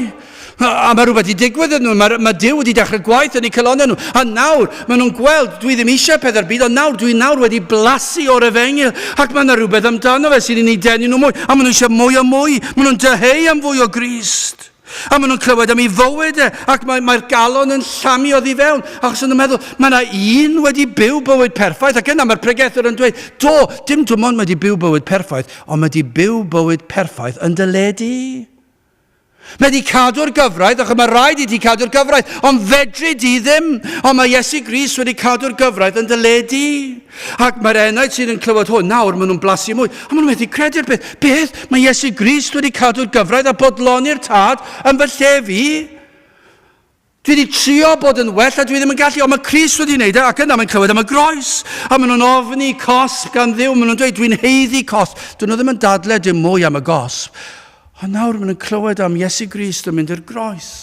A mae rhywbeth wedi digwydd yn nhw, mae, mae Dyw wedi dechrau gwaith yn eu calonau nhw. A nawr, maen nhw'n gweld, dwi ddim eisiau pethau'r byd, ond nawr, dwi nawr wedi blasu o'r efengil, ac mae yna rhywbeth amdano fe sy'n ei denu nhw mwy, a maen nhw eisiau mwy a mwy, maen nhw'n dyheu am fwy o Grist. A maen nhw'n clywed am ei fywyd e, ac mae'r mae galon yn llamu oddi fewn, achos yn y meddwl, mae yna un wedi byw bywyd perffaith, ac yna mae'r pregethwr yn dweud, do, dim dim ond wedi byw bywyd perffaith, ond mae wedi byw bywyd perffaith yn dy le di. Mae wedi cadw'r gyfraith, ac mae rhaid i ti cadw'r gyfraith, ond fedri di ddim, ond mae Iesu Gris wedi cadw'r gyfraith yn dy le di. Ac mae'r enaid sydd yn clywed hwn nawr, maen nhw'n blasu mwy. A maen nhw'n methu credu'r beth. Beth? Mae Iesu Grist wedi cadw'r gyfraith a bodloni'r tad yn fy lle fi? Dwi wedi trio bod yn well a dwi ddim yn gallu, ond mae Crist wedi wneud e, ac yna mae'n clywed am y groes. A maen nhw'n ofni cosb gan ddiw, maen nhw'n dweud, dwi'n heiddi cosb. Dyn nhw ddim yn dadle dim mwy am y gosb. Ond nawr maen nhw'n clywed am Iesu Grist yn mynd i'r groes.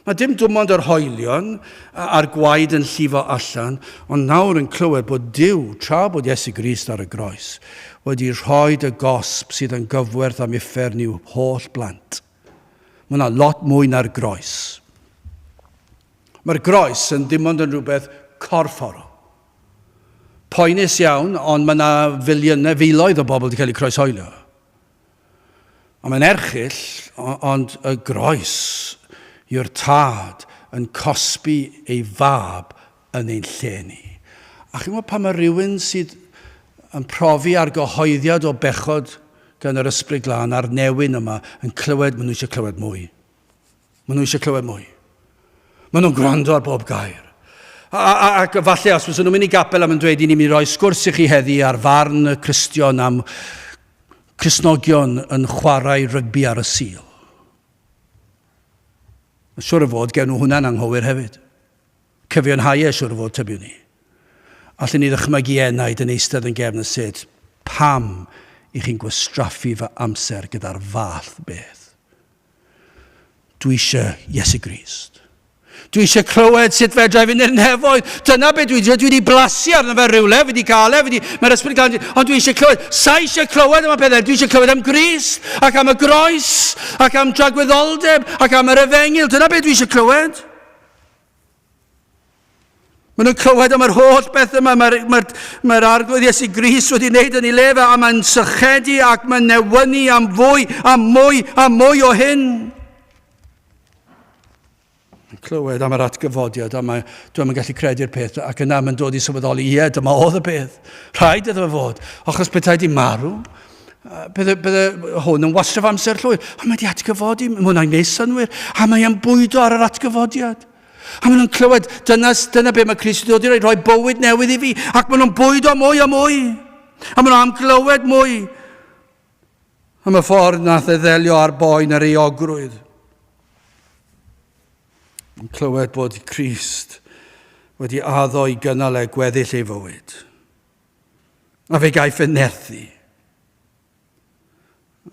Mae dim dwmond yr hoelion a'r gwaed yn llifo allan, ond nawr yn clywed bod Duw, tra bod Iesu Grist ar y groes, wedi rhoed y gosb sydd yn gyfwerth am uffern i'w holl blant. Mae yna lot mwy na'r groes. Mae'r groes yn dim ond yn rhywbeth corfforol. Poenus iawn, ond mae yna filiynau, filoedd o bobl wedi cael eu croeshoelio. Ond mae'n erchyll, ond y groes yw'r tad yn cosbi ei fab yn ein lle ni. A chi'n gwybod pan mae rhywun sydd yn profi argyhoeddiad o bechod gan yr Ysbryd Glân a'r newyn yma yn clywed maen nhw eisiau clywed mwy. Maen nhw eisiau clywed mwy. Maen nhw'n gwrando ar bob gair. A, a, ac falle os fyddwn nhw'n mynd i gapel am yn dweud i ni'n mynd i roi sgwrs i chi heddi ar farn y Cristion am Crisnogion yn chwarae rygbi ar y Sul. Mae'n siwr o fod, gewn nhw hwnna'n anghywir hefyd. Cyfiawnhau e, siwr o fod, tybiwn ni. Allen ni ddychmygu enaid yn eistedd yn gefn y set, pam i chi'n gwastraffu fy amser gyda'r fath beth? Dwi eisiau Iesu Grist. Dwi eisiau clywed sut fedra i fynd i'r nefoedd. Dyna beth dwi wedi dweud. Dwi wedi blasu arno fe rhywle, wedi cael e, wedi, mae'r ysbryd gael, ond dwi eisiau clywed. Sa eisiau clywed am y pethau, dwi eisiau clywed am gris, ac am y groes, ac am dragwyddoldeb, ac am yr efengil. Dyna beth dwi eisiau clywed. Maen nhw'n clywed am yr holl beth yma. Mae'r mae mae arglwydd Iesu Gris wedi wneud yn ei le fe a mae'n sychedu ac mae'n newynu am fwy a mwy a mwy o hyn. Mae'n clywed am yr atgyfodiad a mae, dwi'n yn gallu credu'r peth ac yna mae'n dod i sylweddoli, ie, dyma oedd y peth. Rhaid iddo fod, achos pethau di marw, Bydde, bydde hwn yn wastraf amser llwyr. A mae wedi atgyfodi, mae hwnna'n gwneud synwyr. A mae e'n bwydo ar yr atgyfodiad. A maen nhw'n clywed, dyna, dyna beth mae Christ wedi dod i roi, rhoi bywyd newydd i fi. Ac maen nhw'n bwydo mwy a mwy. A maen nhw am glywed mwy. Am y ffordd nath e ddelio ar boen yr eogrwydd. Yn clywed bod Christ wedi addo i gynnal e gweddill ei fywyd. A fe gaiff fy nerthu.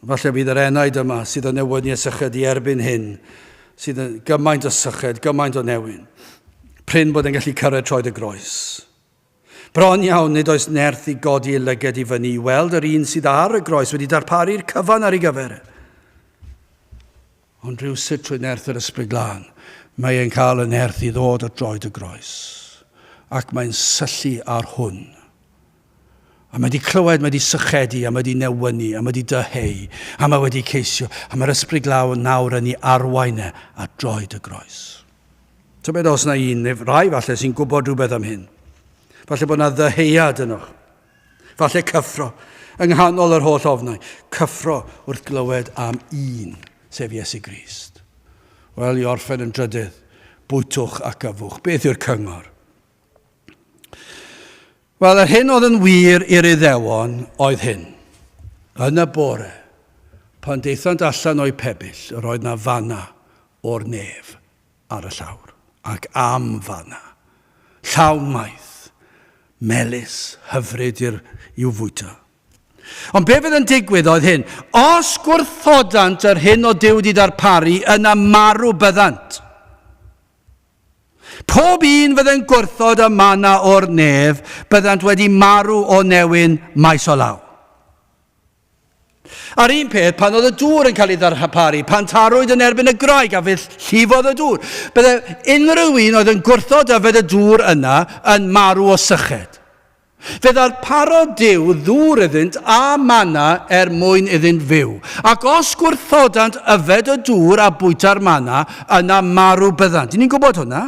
Falle bydd yr enaid yma sydd yn newyddu y syched i erbyn hyn, sydd yn gymaint o syched, gymaint o newyn. Pryn bod yn gallu cyrraedd troed y groes. Bron iawn, nid oes nerth i godi ei lyged i fyny i weld yr un sydd ar y groes wedi darparu'r cyfan ar ei gyfer. Ond rywsut trwy nerth yr Ysbryd Glân, mae e'n cael y nerth i ddod at droed y groes. Ac mae'n syllu ar hwn. A mae 'di clywed, mae 'di sychedu, a mae 'di newynu, a mae 'di dyheu, a mae wedi ceisio, a mae'r Ysbryd Glân nawr yn ei arwain e at droed y groes. Tybed os na un, neu rai falle, sy'n gwybod rhywbeth am hyn. Falle bod na ddyheuad ynoch. Falle cyffro, yng nghanol yr holl ofnau, cyffro wrth glywed am un, sef Iesu Grist. Wel, i orffen yn drydydd, bwytwch ac yfwch. Beth yw'r cyngor? Wel, yr hyn oedd yn wir i'r Iddewon oedd hyn. Yn y bore, pan deithant allan o'u pebyll, yr oedd na fanna o'r nef. ar y llawr, ac am fanna, llawn maeth, melys, hyfryd i'r, i'w fwyta. Ond be fydd yn digwydd oedd hyn, os gwrthodant yr hyn o Duw wedi darparu, yna marw byddant. Pob un fydden gwrthod y mana o'r nef, byddant wedi marw o newyn maes o law. A'r un peth pan oedd y dŵr yn cael ei ddarparu, pan tarwyd yn erbyn y graig a fydd llifodd y dŵr. Bydde unrhyw un oedd yn gwrthod yfed y dŵr yna yn marw o syched. Fe ddarparodd Dyw ddŵr iddynt a mana er mwyn iddynt fyw. Ac os gwrthodant yfed y dŵr a bwyta'r mana, yna marw byddant. Ni'n gwybod hwnna.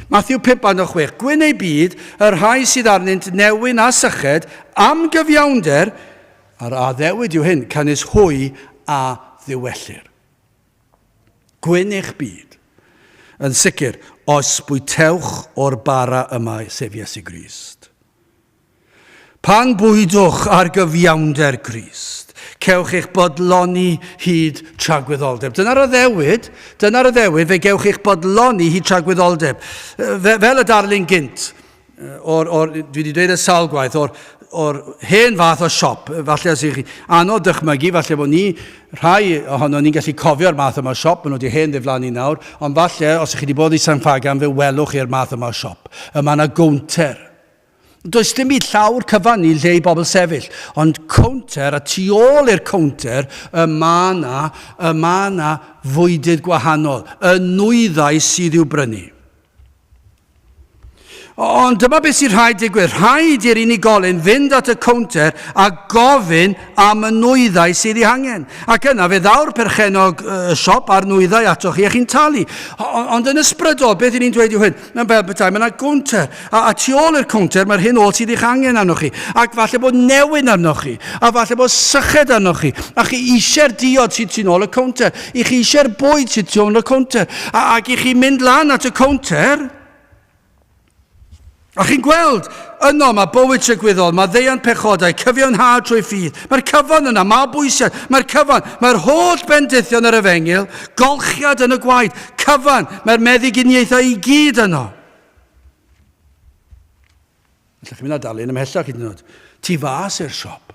Mathew 5 a 6, Gwyn eu byd, y rhai sydd arnynt newyn a syched, am gyfiawnder, a'r addewid yw hyn, canys hwy a ddiwellir. Gwyn eich byd. Yn sicr, os bwytewch o'r bara yma, sef Iesu Grist. Pan bwydwch ar gyfiawnder Grist, cewch eich bodloni hyd tragwyddoldeb. Dyna'r addewid, dyna'r addewid, fe gewch eich bodloni hyd tragwyddoldeb. Fe, fel y darlun gynt, o'r, or, dwi wedi dweud y sawl gwaith, o'r, or hen fath o siop, falle os ych chi anodd dychmygu, falle bod ni, rhai ohono ni'n gallu cofio'r math yma o siop, maen nhw wedi hen ddiflannu nawr, ond falle os ych chi wedi bod i San Ffagan fe welwch chi'r math yma o siop. Y mae yna gownter, Does dim byd llawr cyfan ni lle i bobl sefyll, ond cownter, a tu ôl i'r cownter, y mae yna, y mae yna fwydydd gwahanol, y nwyddau sydd i'w brynu. Ond dyma beth sy'n rhaid digwydd. Rhaid i'r unigolyn fynd at y cownter a gofyn am y nwyddau sydd ei hangen. Ac yna fe ddaw'r perchenog y siop a'r nwyddau atoch chi a chi'n talu. Ond yn ysbrydol, beth y'n ni'n dweud yw hyn? Mae'n fel bethau, mae yna gownter, a, a tu ôl i'r cownter mae'r hyn oll sydd eich angen arnoch chi, ac falle bod newyn arnoch chi, a falle bod syched arnoch chi, a chi eisiau'r diod sydd tu ôl y cownter, i chi eisiau'r bwyd sydd tu ôl y cownter, a, ac i chi mynd lan at y cownter, A chi'n gweld, yno mae bywyd trygwyddol, mae ddeian pechodau, cyfiawnhad trwy ffydd. Mae'r cyfan yna, mae bwysiad, mae'r cyfan, mae'r holl bendithion yr efengyl, golchiad yn y gwaed, cyfan, mae'r meddyginiaethau i gyd yno. Alla chi mynd a darllen ymhellach hyd yn oed. Tu fas i'r siop.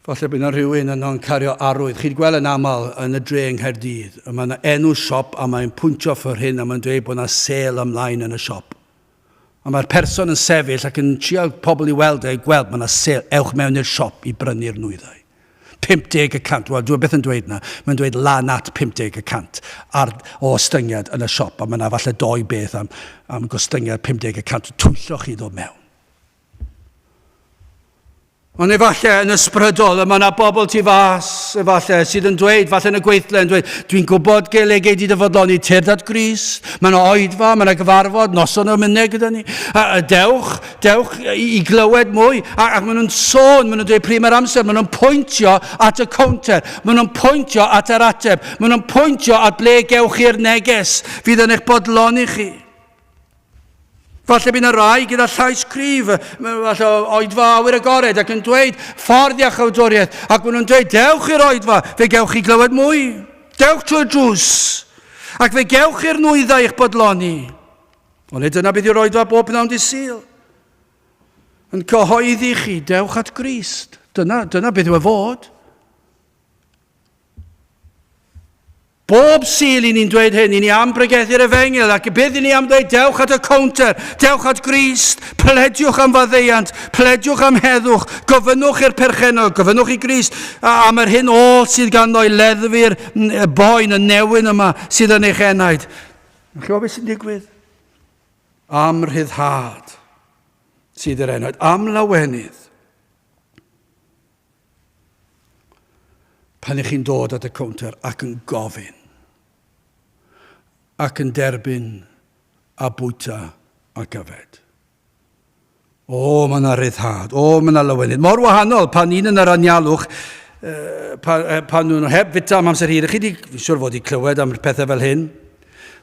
Falle bydd yna rhywun yno'n cario arwydd. Chi'n gweld yn aml yn y dre yng Nghaerdydd, y mae yna enw siop a mae'n pwyntio ffyr hyn a mae'n dweud bod yna sel ymlaen yn y siop. Ond mae'r person yn sefyll ac yn trial pobl i weld e, gweld, mae 'na sale, ewch mewn i'r siop i brynu'r nwyddau. 50 y cant, wel, dwi byth yn dweud 'na, mae'n dweud lan at 50 y cant ar, o ostyngiad yn y siop, a mae 'na falle doi beth am, am gostyngiad 50 y cant, twyllo chi ddod mewn. Ond efallai yn ysbrydol, y mae yna bobl tu fas, efallai, sydd yn dweud, falle yn y gweithle, yn dweud, dwi'n gwybod gael ei geid i dyfodloni tyrd at Gris, mae yna oedfa, mae yna gyfarfod, noson o'r mynnau gyda ni, a, a dewch, dewch i, i glywed mwy, a, ac maen nhw'n sôn, maen nhw'n dweud pryd mae'r amser, maen nhw'n pwyntio at y counter, maen nhw'n pwyntio at yr ateb, maen nhw'n pwyntio at ble gewch chi'r neges fydd yn eich bodloni chi. Falle bydd yna rai gyda llais cryf, falle oedfa awyr agored ac yn dweud ffordd iachawdwriaeth ac maen nhw'n dweud dewch i'r oedfa, fe gewch chi glywed mwy. Dewch trwy'r drws ac fe gewch chi'r nwyddau i'ch bodloni. Ond nid dyna bydd i'r oedfa bob pnawn di syl. Yn cyhoeddi chi, dewch at Grist. Dyna, dyna beth yw e fod. Bob Sul i ni'n dweud hyn, i ni am bregethu'r efengyl, ac bydd i ni am ddweud dewch at y cownter, dewch at Grist, plediwch am faddeuant, plediwch am heddwch, gofynnwch i'r perchennog, gofynnwch i Grist am yr hyn all sydd ganddo i leddfu'r boen, y newyn yma sydd yn eich enaid. Yn chi'n beth sy'n digwydd? Am rhyddhad sydd yr enaid, am lawenydd. Pan ych chi'n dod at y cownter ac yn gofyn ac yn derbyn a bwyta ac yfed. O, mae yna ryddhad. O, mae yna lawenydd. Mor wahanol pan un yn yr anialwch pan, pan nhw'n heb fita am amser hir. Chi wedi, fi'n siŵr fod wedi clywed am pethau fel hyn.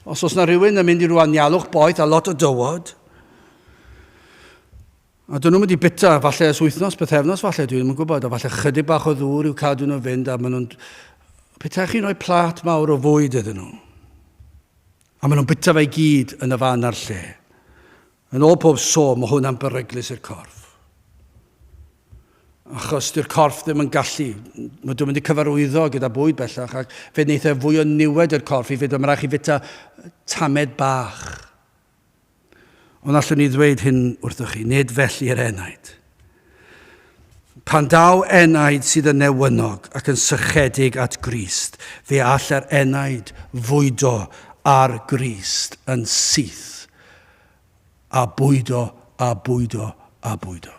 Os oes yna rhywun yn mynd i rwan ialwch boeth a lot o dywod, A dyn nhw'm wedi bita, falle ers wythnos, pythefnos falle, dwi ddim yn gwybod, a falle chydig bach o ddŵr i'w cadw nhw fynd, a maen nhw'n... Petaech chi'n rhoi plat mawr o fwyd iddyn nhw, a maen nhw'n bita fe i gyd yn y fan a'r lle. Yn ôl pob so, mae hwnna'n beryglus i'r corff. Achos dy'r corff ddim yn gallu, mae dwi'n mynd i cyfarwyddo gyda bwyd bellach, ac fe wneith e fwy o niwed i'r corff i fyd, mae'n rhaid chi fita tamed bach. Ond allwn i ddweud hyn wrthoch chi, nid felly yr enaid. Pan daw enaid sydd yn newynog ac yn sychedig at Grist, fe all yr enaid fwydo ar Grist yn syth, a bwydo, a bwydo, a bwydo.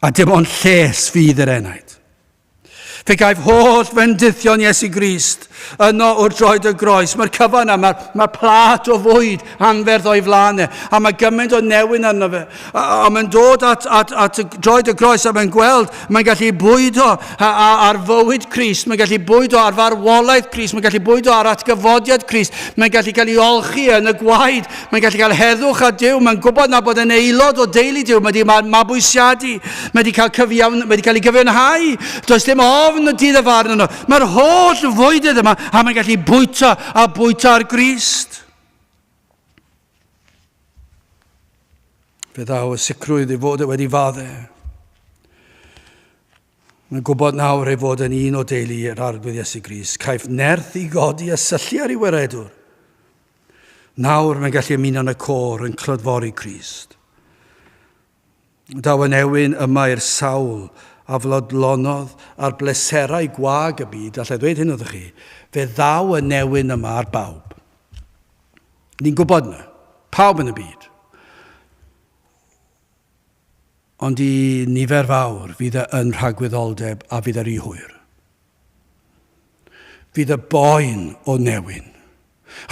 A dim ond lles fydd yr enaid. Fe gaif holl fendithion Iesu Grist yno wrth droed y groes. Mae'r cyfan yma, mae plat o fwyd anferth o'i flaen e, a mae gymaint o newyn arno fe. A, a mae'n dod at, at, at droed y groes a mae'n gweld, mae'n gallu bwydo ar fywyd Crist, mae'n gallu bwydo ar farwolaeth Crist, mae'n gallu bwydo ar atgyfodiad Crist, mae'n gallu cael ei olchi yn y gwaed Mae'n gallu cael heddwch a Duw, mae'n gwybod na bod yn aelod o deulu Duw, mae wedi mabwysiadu, mae wedi cael, cyfiawn, mae wedi cael ei gyfiawnhau, does dim ofn y dydd y farn yno. Mae'r holl fwydydd yma a mae'n gallu bwyta a bwyta ar Grist. Fe ddaw y sicrwydd ei fod e wedi fadde. Mae'n gwybod nawr ei fod yn un o deulu yr arglwydd Iesu Gris. Caiff nerth i godi a syllu ar ei weredwr. Nawr mae'n gallu ymuno yn y côr yn clodfori Crist. Daw yn ewyn yma i'r sawl a flodlonodd ar bleserau gwag y byd, allai ddweud hyn wrthych chi, fe ddaw yn newyn yma ar bawb. Ni'n gwybod yna, pawb yn y byd. Ond i nifer fawr, fydd e yn rhagwyddoldeb a fydd e ry hwyr. Fydd y boen o newyn.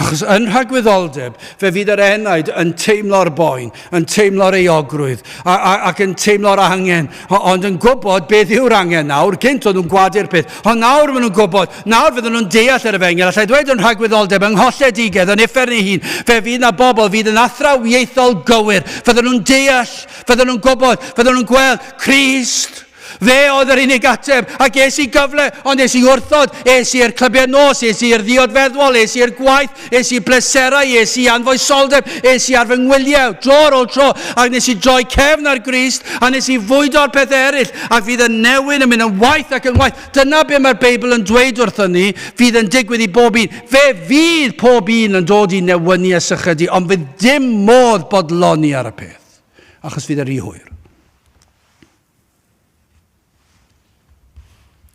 Achos yn rhagwyddoldeb, fe fydd yr enaid yn teimlo'r boen, yn teimlo'r euogrwydd, ac yn teimlo'r angen, ond yn gwybod beth yw'r angen nawr, gynt oedd nhw'n gwadu'r peth, ond nawr maen nhw'n gwybod, nawr fydden nhw'n deall yr efengel, allai ddweud yn rhagwyddoldeb, yng ngholledigedd, yn uffern ei hun, fe fydd na bobl fydd yn athrawiaethol gywir, fydden nhw'n deall Fydden nhw'n gwybod, fydden nhw'n gweld Christ. Fe oedd yr unig ateb, a ges i gyfle, ond es i wrthod, es i'r clybiau nos, es i'r ddiod feddwol, es i'r gwaith, es i bleserau, es i anfoesoldeb, es i ar fy ngwyliau, dro ar ôl tro, ac nes i droi cefn ar Grist, a nes i fwydo'r pethau eraill, ac fydd y newyn yn mynd yn waith ac yn waith. Dyna be mae'r Beibl yn dweud wrthyn ni, fydd yn digwydd i bob un. Fe fydd pob un yn dod i newynu a sychydu, ond fydd dim modd bodloni ar y peth. Ffyrdd, achos fydd e rhy hwyr.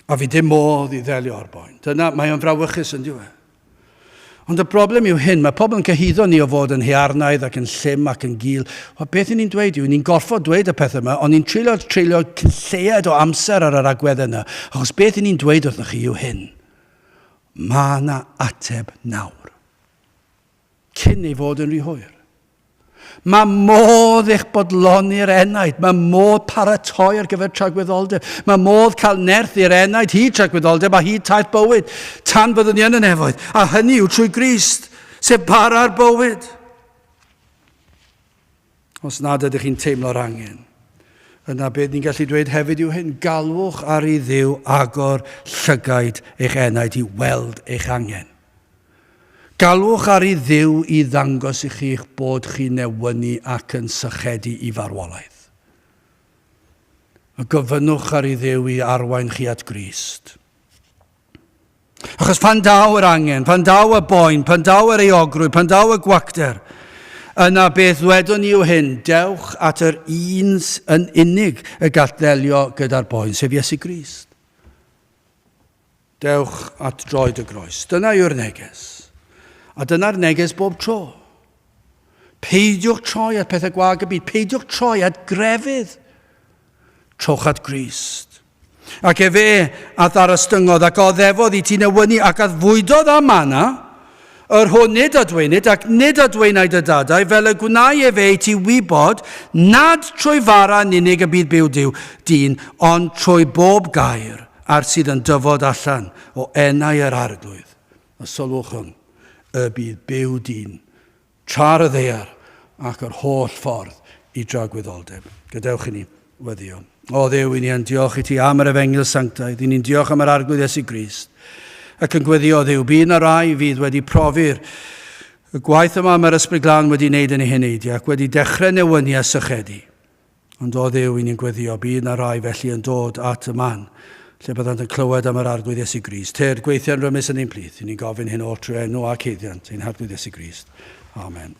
A fi dim modd i ddelio ar boen. Dyna, mae o'n frawychus yn diwe. Ond y broblem yw hyn, mae pobl yn cyhyddo ni o fod yn hearnaidd ac yn llym ac yn gil. O beth ni'n dweud yw, ni'n gorfod dweud y pethau yma, ond ni'n treulio, treulio cynlleied o amser ar yr agwedd yna, achos beth ni'n dweud wrthych chi yw hyn. Mae yna ateb nawr. cyn ei fod yn rhy hwyr. Mae modd eich bodloni'r enaid, mae modd paratoi ar gyfer tragwyddoldeb, mae modd cael nerth i'r enaid hyd tragwyddoldeb a hyd taith bywyd, tan byddwn ni yn y nefoedd, a hynny yw trwy Grist, sef para'r bywyd. Os nad ydych chi'n teimlo'r angen, yna beth ni'n gallu dweud hefyd yw hyn, galwch ar i Dduw agor llygaid eich enaid i weld eich angen. Galwch ar i Dduw i ddangos i chi eich bod chi'n newynu ac yn sychedu i farwolaeth. A gofynnwch ar i Dduw i arwain chi at Grist. Achos pan daw yr angen, pan daw y boen, pan daw yr eogrwydd, pan daw y gwacter, yna beth ddwedwn ni yw hyn, dewch at yr un yn unig y gall ddelio gyda'r boen, sef Iesu Grist. Dewch at droed y groes. Dyna yw'r neges. A dyna'r neges bob tro. Peidiwch troi at pethau gwag y byd. Peidiwch troi at grefydd. Trowch at Grist. Ac efe a ddarostyngodd, ac oddefodd i ti newynu, ac addfwydodd â mana, yr hwn nid adweinid, ac nid adweinai dy dadau, fel y gwnai efe i ti wybod, nad trwy fara yn unig y bydd byw Duw dyn, ond trwy bob gair ar sydd yn dyfod allan o enau yr arglwydd. A sylwch hwn, y bydd byw dyn Tra'r y ddaear ac yr holl ffordd i dragwyddoldeb. Gadewch i ni weddio. O Dduw, i ni yn diolch i ti am yr efengyl sanctaidd, i ni'n diolch am yr arglwydd Iesu Grist, ac yn gweddio, Dduw, bydd na rai fydd wedi profi'r y gwaith yma mae'r Ysbryd Glân wedi wneud yn ei heneidiau ac wedi dechrau newyni a sychedu. Ond o Dduw i ni'n gweddio, bydd 'na rai felly yn dod at y man, lle byddant yn clywed am yr Arglwydd Iesu Grist. Tyrd, gweithian rymus yn ein plith, i ni'n gofyn hyn oll trwy enw ac haeddiant ein Harglwydd Iesu Grist. Amen.